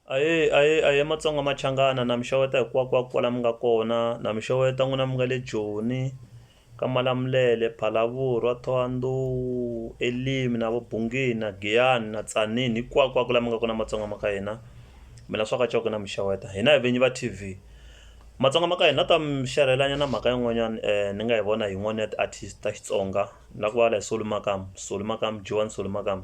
Ahee ahee ahee Matsonga Machangana na mi xeweta hinkwakunkwaku kwala mi nga kona na mi xeweta n'wina mi nga le Joni ka Malamulele, Phalaborwa, Thohoyandou, Elimi na vo Bungeni na Giyani na Tzaneen hinkwakunkwaku la mi nga kona Matsonga ma ka hina mi la swaka coko na mi xeweta hina hi vinyi va T_V Matsonga ma ka hina ni la ku ta mi xerhela nyana mhaka yin'wanyani ni nga yi vona hi yin'wani ya ti-artist ta Xitsonga ni la ku vulavula hi Solly Makamu Solly Makamu G_one Solly Makamu.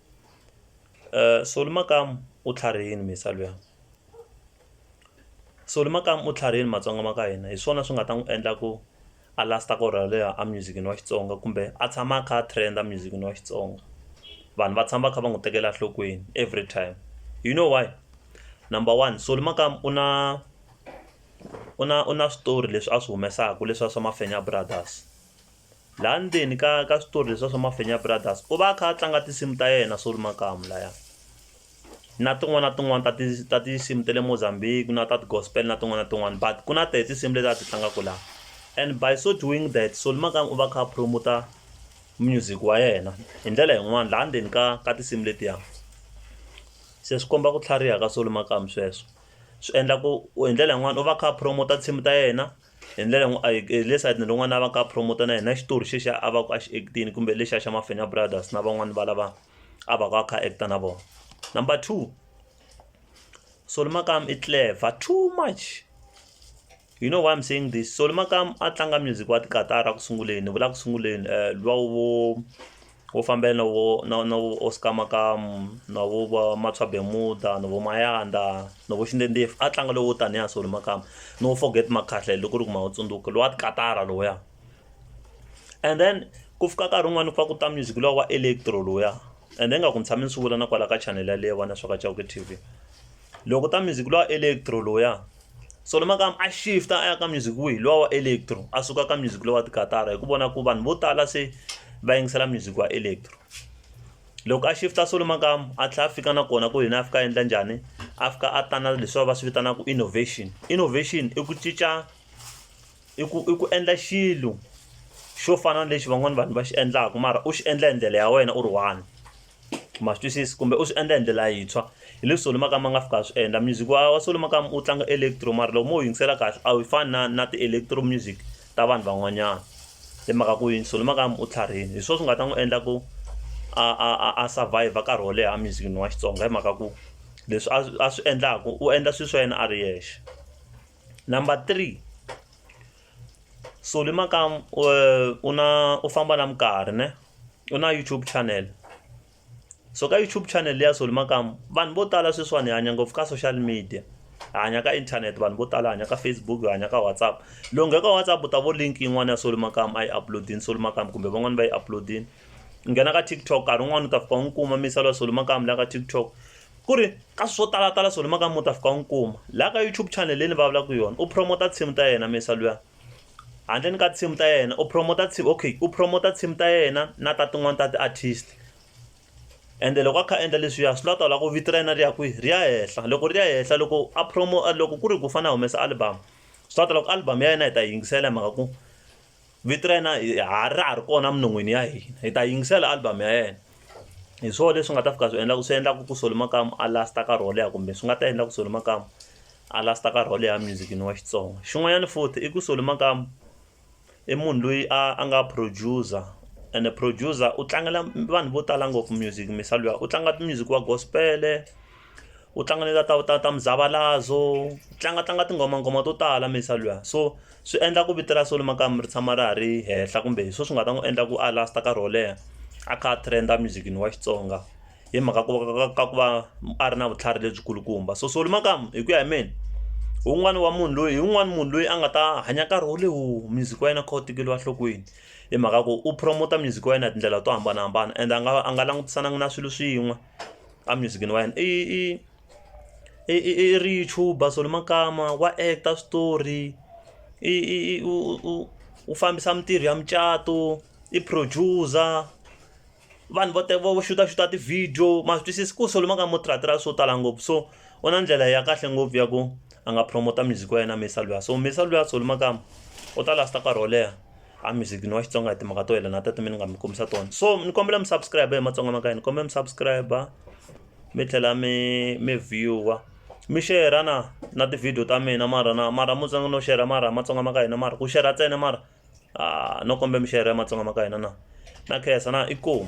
Soli makamu u tlharihile mindzisa luya, Soli makamu u tlharihile matsonga ma ka hina hi swona swi nga ta n'wi endla ku a last-a nkarhi wo leha a music-ini wa Xitsonga kumbe a tshama a kha a trend-a music-ini wa Xitsonga vanhu va tshama va kha va n'wi tekela enhlokweni every time you know why, number one Soli makamu u na u na u na switori leswi a swi humesaka leswi swa swa Mafenya brothers. Laha ndzeni ka ka switori leswiya swa Mafenya Brothers u va a kha a tlanga tinsimu ta yena Solly Makamu laya na tin'wana na tin'wana ta ti ta tinsimu ta le Mozambique na ta ti gospel na tin'wana na tin'wana but ku na tona tinsimu leti a ti tlangaka laha and by so doing that Solly Makamu u va kha a promoter music wa yena hi ndlela yin'wani laha ndzeni ka ka tinsimu letiya se swi komba ku tlhariha ka Solly Makamu sweswo swi endla ku hi ndlela yin'wani u va a kha a promoter nsimu ta yena. hi ndlela n'wi a hi hi le sayitini rin'wana a va ka a promoter na yena xitori xexa a va ku a xi act-ini kumbe lexiya xa Mafenya Brothers na van'wani va lava a va ku a kha a act-a na vona number two Solly Makamu i clever too much you know why I'm saying this Solly Makamu a tlanga music wa ti katara ku sunguleni ni vula ku sunguleni luwa wo. wo fambela na vo na na vo Oscar Makamu na vo va Mathswa Bemuda na vo Mayanda na vo Xindendef a tlanga lowo tanihi a Solly Makamu no forget Makhahlele loko u ri ku ma wu tsundzuka lowa tikatara lowuya and then ku fika nkarhi wun'wani ku fa ku ta music luwa wa electro lowuya and then nga ku ni tshame ni swi vula na kwala ka channel yaleyo vana swa ka Chauke T_V loko ta music luwa electro lowuya. so le makaya a shift a ya ka music wihi lowa wa electro a suka ka music lowa tikatara hi ku vona ku vanhu vo tala se va yingisela music wa electro loko a shifta so le makaya a tlhela a fika na kona ku yena a fika a endla njhani a fika a tana leswi va swi vitanaka innovation innovation i ku cinca i ku i ku endla xilo xo fana na lexi van'wana vanhu va xi endlaka mara u xi endla hi ndlela ya wena u ri one ma swi twisisi kumbe u swi endla hi ndlela yintshwa hi leswi solo makamba a nga fika a swi endla music wa wa solo makamba u tlanga electro mara loko mo wu yingisela kahle a wu fani na na ti-electro music ta vanhu van'wanyana hi mhaka ku yini solo makamba u tlharihile hi swona swi nga ta n'wi endla ku a a a a survivor nkarhi wo leha musicini wa xitsonga hi mhaka ku leswi a a swi endlaku u endla swilo swa yena a ri yexe number three solo makamba u na u famba na minkarhi ne. u na YouTube channel so ka YouTube channel leyi ya Solly Makamu vanhu vo tala sweswiwani hi hanya ngopfu ka social media hi hanya ka internet vanhu vo tala hanya ka Facebook hi hanya ka WhatsApp loko nghena ka WhatsApp u ta vo link yin'wana ya Solly Makamu a yi uploadini Solly Makamu kumbe van'wani va yi uploadini nghena ka TikTok nkarhi wun'wani u ta fika u n'wi kuma misalo ya Solly Makamu la ka TikTok ku ri ka swo talatala Solly Makamu u ta fika u n'wi kuma la ka YouTube channel leyi ni vulavulaka yona u promote nsimu ta yena misalo ya handleni ka tinsimu ta yena u promote team okay u promote team ta yena na ta tin'wani ta ti artist ende loko a kha endla leswiya swi la ta la ku vito ra yena ri ya kwihi ri ya henhla loko ri ya henhla loko a promo loko ku ri ku fana humesa album swi la ta loko album ya yena hi ta yingisela hi mhaka ku vito ra yena ha ra ha ri kona minon'wini ya hina hi ta yingisela album ya yena hi swona leswi nga ta fika swi endla swi endlaka ku solo makamu a last a karhi wo leha kumbe swi nga ta endla ku solo makamu a last-a nkarhi wo leha music-ini wa Xitsonga xin'wanyana futhi i ku Solly Makamu i munhu loyi a a nga producer ene producer u tlangela vanhu vo tala ngopfu music mhisa luya u tlanga music wa gospel-e u tlanga na ta ta ta muzavalazo u tlanga tlanga tinghoma nghoma to tala mhisa luya so swi endla ku vito ra Solly Makamu ri tshama ra ha ri henhla kumbe hi swona swi nga ta n'wi endla ku a last-a nkarhi wo leha a kha a trend-a music-ini wa Xitsonga hi mhaka ku va ka ku va a ri na vutlhari lebyi kulukumba so solo makamu hi ku ya hi mina un'wana wa munhu loyi hi un'wana munhu loyi a nga ta hanya nkarhi wo lewu music wa yena kha wu tekeriwa nhlokweni hi mhaka ku u promote music wa yena hi tindlela to hambanahambana and a nga a nga langutisananga na swilo swin'we a music wa yena i i i i i ri youtuber solo makama wa actor switori i i u u u fambisa mintirho ya mucato i producer. vanhu vo vo xutaxuta ti-video ma swi twisisi ku solomon ka motratira swo tala ngopfu so u na ndlela ya kahle ngopfu ya ku a nga promota music wa yena misa luya so misa luya solomon kama u ta lasta nkarhi wo leha a music ni wa xitsonga hi timhaka to yelana ta timini nga mi kombisa tona so ni kombela mi subscribe hi matsonga maka ni kombela mi subscribe mi tlhela mi mi viewer mi share na na ti-video ta mina mara na mara mutsonga no share mara matsonga ma ka hina mara ku share ntsena mara no kombela mi share-ra ya matsonga ma ka hina na na khensa na inkomu.